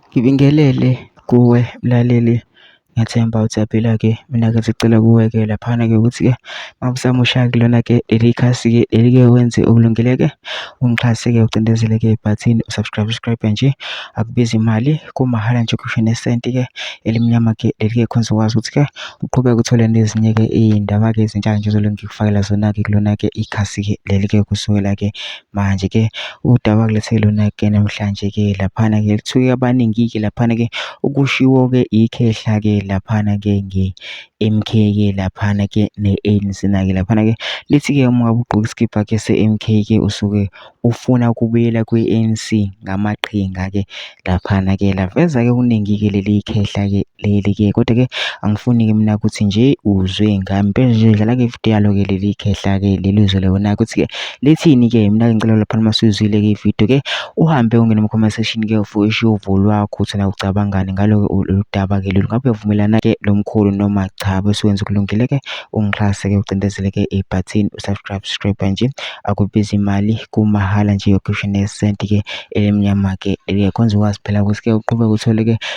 Ngibingelele kuwe mlaleli ngethemba ukuthi uyaphila-ke. Mina-ke sicela kuwe-ke laphana-ke ukuthi-ke uma usamusha-ke kulona-ke leli khasi-ke leli-ke wenze okulungile-ke ungixhase-ke ucindezele-ke ibhathini u-subscribe subscribe nje akubizi imali kumahhala nje kusho nesenti-ke elimnyama-ke leli-ke khona uzokwazi ukuthi-ke uqhubeke uthole nezinye-ke iy'ndaba-ke ezintsha nje ozolunge ngikufakela zona-ke kulona-ke ikhasi-ke leli-ke kusukela-ke Manje ke udaba kulesi lona ke namhlanje ke laphana ke lithuke abaningi ke laphana ke ukushiwo ke ikhehla ke laphana ke nge MK ke laphana ke ne ANC na ke laphana ke lithi ke uma ugqoka isikibha ke se MK ke usuke ufuna ukubuyela kwi ANC ngamaqhinga ke laphana ke laveza ke kuningi ke leli khehla ke leli ke kodwa ke angifuni ke mina ukuthi nje uzwe ngami phela nje dlala ke video yalo ke leli khehla ke leli uzwe lona ukuthi ke lithini ke mina ngicela lapha uma sizwile ke video ke uhambe ungene mu comment section ke ufushe uvo lwakho ukuthi na ucabangani ngalo ke udaba ke lolu ngabe uyavumelana ke lomkhulu noma cha bese wenza kulungile ke ungixhase ke ucindezele ke i button usubscribe subscribe nje akubiza imali kumahala nje yokushine cent ke elimnyama ke liyakhonza ukwazi phela ukuthi ke uqhubeke uthole ke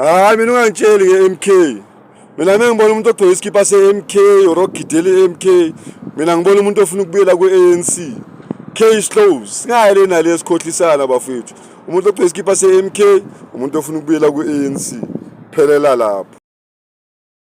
hayi mina ungangitsheli ke MK mina mina ngibona umuntu ogqoke isikipa se MK or ogidela MK mina ngibona umuntu ofuna ukubuyela ku ANC case closed singayi le nale esikhohlisana bafethu umuntu ogqoke isikipa se MK umuntu ofuna ukubuyela ku ANC phelela lapho